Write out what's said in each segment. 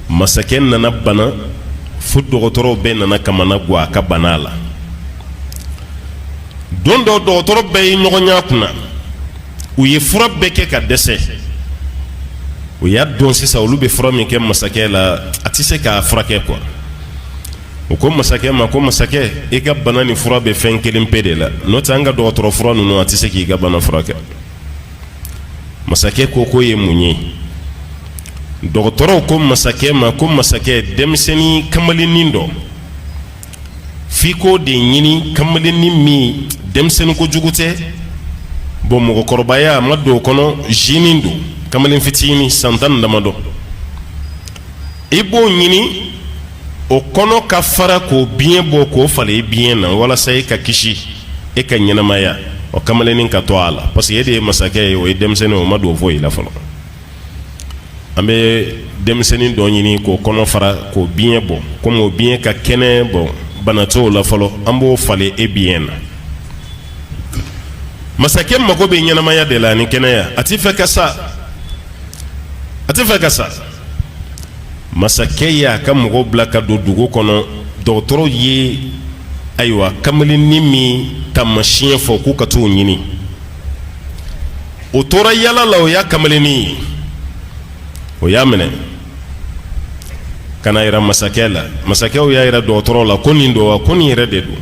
masakɛ nana bana fo dɔgɔtɔrɔw bɛɛ nana kamana gan a ka bana la don dɔ dɔgɔtɔrɔ bɛɛ ye ɲɔgɔn y'a kunna u ye fura bɛɛ kɛ ka dɛsɛ u y'a dɔn sisan olu bɛ fura min kɛ masakɛ la a tɛ se k'a furakɛ kuwa u ko masakɛ ma ko masakɛ i ka bana nin fura bɛ fɛn kelen pe de la n'o tɛ an ka dɔgɔtɔrɔ fura ninnu a tɛ se k'i ka bana furakɛ masakɛ ko k'o ye mun ye dɔgɔtɔrɔw ko masakɛ ma ko masakɛ denmisɛnnin kamalennin dɔ f'i k'o de ɲini kamalennin min denmisɛnnin kojugu tɛ bɔn mɔgɔkɔrɔbaya ma don o kɔnɔ zinin don kamalen fitinin san tan damadɔ i b'o ɲini o kɔnɔ ka fara k'o biɲɛ bɔ k'o falen i biɲɛ na walasa e ka kisi e ka ɲɛnamaya o kamalennin ka to a la parce que e de ye masakɛ ye o ye denmisɛnnin o ma don foyi la fɔlɔ an bɛ denmisɛnnin dɔ ɲini k'o kɔnɔ fara k'o biɲɛ bɔ komi o biɲɛ ka kɛnɛ bɔn bana t'o la fɔlɔ an b'o falen e biɲɛ na masakɛ mago bɛ ɲɛnamaya de la ni kɛnɛya a tɛ fɛ ka sa a tɛ fɛ ka sa masakɛ y' a ka mɔgɔw bila ka don dugu kɔnɔ dɔgɔtɔrɔw ye ayiwa kamalennin min taamasiɲɛ fɔ k'u ka taa o ɲini o tora yaala la o y'a kamalennin ye o y'a minɛ k'a yira masakɛ la masakɛ y'a yira dɔgɔtɔrɔ la ko nin don wa ko nin yɛrɛ de don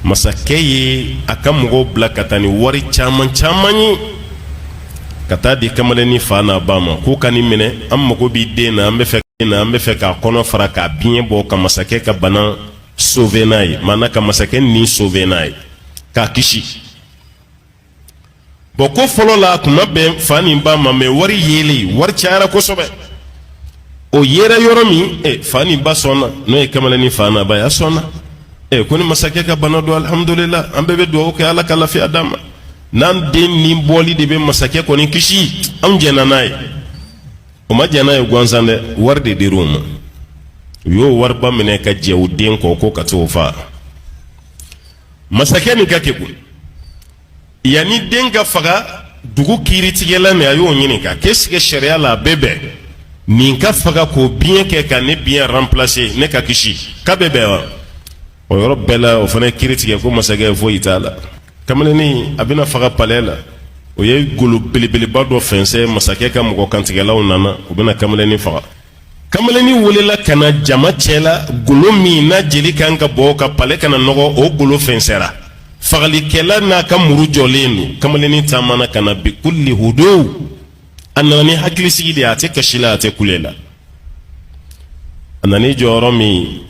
masakɛ ye a ka mɔgɔw bila ka taa ni wari caman caman ye ka taa di kamalennin fa n'a ba ma k'u ka nin minɛ an mago b'i den na an bɛ fɛ na an bɛ fɛ k'a kɔnɔ fara k'a biɲɛ bɔ ka masakɛ ka bana sauver n'a ye maana ka masakɛ ni sauver n'a ye k'a kisi bɔn ko fɔlɔ la a tun ma bɛn fa ni ba ma mɛ wari yeli wari cayara kosɛbɛ o yera yɔrɔ min e fa ni ba sɔnna n'o ye kamalennin fa n'a ba ye u sɔnna e ko ni masakɛ ka bana don alihamudulila an bɛɛ bɛ dugawu kɛ ala ka lafiya d'a ma n'an den ni bɔli de bɛ masakɛ kɔni kisi anw jɛnna n'a ye u ma jɛn n'a ye gansan dɛ wari de dir'u ma u y'o wariba minɛ ka jɛn u den kɔ k'u ka t'o faa masakɛ nin ka kegun yanni den ka faga dugu kiiritigɛla min a y'o ɲininka k'est-ce que sariya la a bɛ bɛn nin ka faga k'o biɲɛ kɛ ka ne biɲɛ ranpilase ne ka kisi k'a bɛ bɛn wa o yɔrɔ bɛɛ la o fana kiri tigɛ ko masakɛ foyi t'a la kamalennin a bɛna faga palɛ la o ye golo belebeleba dɔ fɛnsɛ masakɛ ka mɔgɔ kantigɛlaw nana u bɛna kamalennin faga kamalennin welela ka na jama cɛ la golo min n'a jeli kan ka bɔ ka palɛ kana nɔgɔ o golo fɛnsɛra fagalikɛla n'a ka muru jɔlen don kamalennin taamana ka na bi kulli hudu a nana ni hakilisigi de ye a tɛ kasi la a tɛ kule la a nana jɔ yɔrɔ min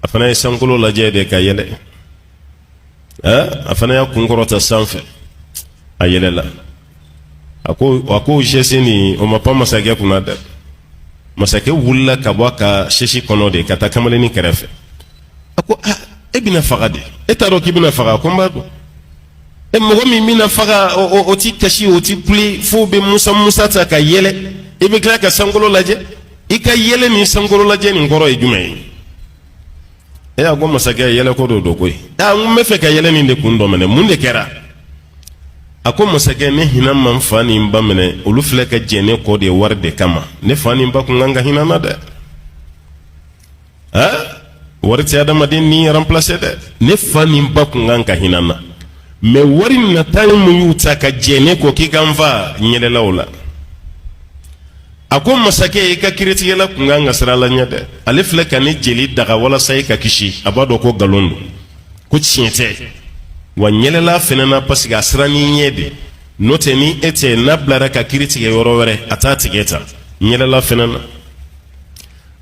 a fana ye sankolo lajɛ de ka yɛlɛ a fana y'a kun kɔrɔta sanfɛ a yɛlɛla a ko a ko sɛsin nin o ma pan masakɛ kunna dɛ masakɛ wulila ka bɔ a ka sɛsi kɔnɔ de ka taa kamalennin kɛrɛfɛ a ko aa e bɛna faga dɛ e t'a dɔn k'i bɛna faga ko n b'a dɔn e mɔgɔ min bɛna faga o ti kasi o ti kule fo o bɛ musa musa ta ka yɛlɛ i bɛ tila ka sankolo lajɛ i ka yɛlɛ ni sankololajɛ nin kɔrɔ ye jumɛn ye ee a ko masakɛ yɛlɛ ko dɔ don koyi aa n b'a fɛ ka yɛlɛ nin de kun dɔn minɛ mun de kɛra a ko masakɛ ne hinɛ ma n fa ni n ba minɛ olu filɛ ka jɛn ne kɔ de wari de kama ne fa ni n ba kun kan ka hinɛ n na dɛ aa wari tɛ adamaden ni ranplase dɛ ne fa ni n ba kun kan ka hinɛ n na mɛ wari nata ye mun y'u ta ka jɛn ne kɔ k'i ka n fa n yɛlɛla u la a ko masakɛ i ka kiritigɛla kun kan ka siran ala ɲɛ dɛ ale filɛ ka ne jeli daga walasa i ka kisi a b'a dɔn ko nkalon don ko tiɲɛ tɛ wa n yɛlɛla a fana na parce que a siranna i ɲɛ de n'o tɛ ni e tɛ n'a bilara ka kiri tigɛ yɔrɔ wɛrɛ a t'a tigɛ tan n yɛlɛla a fana na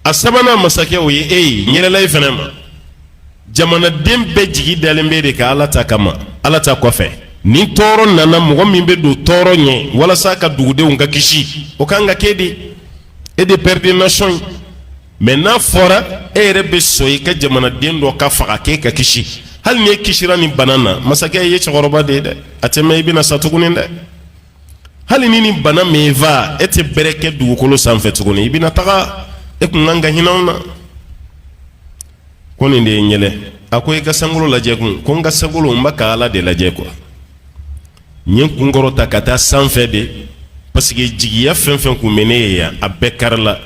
a sabanan masakɛ o ye e ye n yɛlɛla e fana ma jamanaden bɛɛ jigi dalen b'e de kan ala ta kama ala ta kɔfɛ ni tɔɔrɔ nana mɔgɔ min bɛ don tɔɔrɔ ɲɛ walasa ka dugudenw ka kisi o ka kan ka kɛ de e de père de nation ye mɛ n'a fɔra e yɛrɛ bɛ sɔn i ka jamanaden dɔ ka faga k'e ka kisi hali ni i kisira nin bana na masakɛ i ye cɛkɔrɔba de ye dɛ a tɛ mɛɛn i bɛna sa tuguni dɛ hali ni nin bana ma e fa e tɛ bɛrɛ kɛ dugukolo sanfɛ tuguni i bɛna taga e kun kan ka hinɛ n na ko nin de ye n yɛlɛ a ko i ka sankolo lajɛ kun ko n ka sankolo n bɛ ka ala de lajɛ kuwa n ye n kun kɔrɔta ka taa sanfɛ de parce que jigiya fɛn o fɛn kun bɛ ne ye yan a bɛɛ karila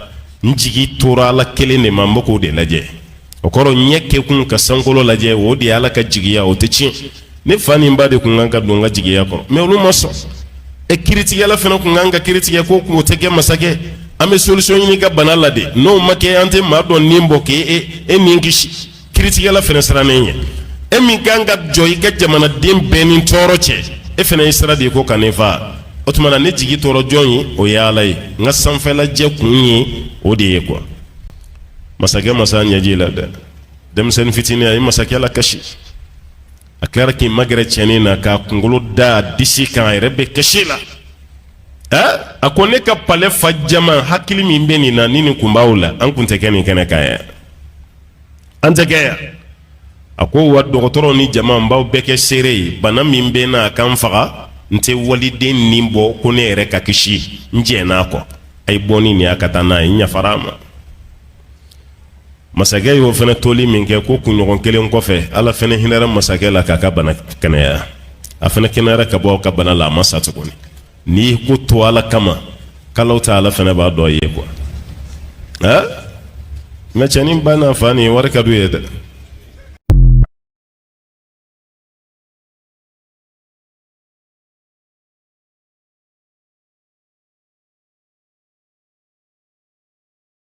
n jigi tora ala kelen de ma n bɛ k'o de lajɛ o kɔrɔ ɲɛ kɛkun ka sankolo lajɛ o de ye ala ka jigiya o tɛ tiɲɛ ne fa ni n ba de tun kan ka don n ka jigiya kɔrɔ mɛ olu ma sɔn e kiritigɛla fana tun kan ka kiri tigɛ ko k'o tɛ kɛ masakɛ an bɛ solisɔn ɲini i ka bana la de n'o ma kɛ an tɛ maa dɔ ni bɔ k'e e e ni kisi kiritigɛla fana sirannen ye e min kan ka jɔ i ka jamanaden bɛɛ ni tɔɔrɔ cɛ e fana ye sira de ye ko ka ne fa o tuma na ne jigi tora jɔn ye o ye ala ye n ka sanfɛlajɛ kun ye o de ye kuwa masakɛ ma s'a ɲɛji la dɛ denmisɛnnin fitinin a ye masakɛ lakasi a kɛra k'i magɛrɛ cɛnin na k'a kunkolo da disi kan a yɛrɛ bɛ kasi la ɛ a ko ne ka palɛ fa jama hakili min bɛ nin na ni nin kun b'aw la an kun tɛ kɛ nin kɛnɛ kan yan an tɛ kɛ yan a ko wa dɔgɔtɔrɔw ni jama n b'aw bɛɛ kɛ seere ye bana min bɛ n na a ka n faga n tɛ waliden ni bɔ ko ne yɛrɛ ka kisi n jɛn'a kɔ a ye bɔ ni nin y'a ka taa n'a ye n yafara a ma masakɛ y'o fana toli min kɛ ko kunɲɔgɔn kelen kɔfɛ ala fana hinɛra masakɛ la k'a ka bana kɛnɛya a fana kɛnɛyara ka bɔ ka bana la a ma sa tuguni n'i ko to ala kama kalo ta ala fana b'a dɔ ye kuwa nka cɛnin ba n'a fa nin wari ka d'u ye dɛ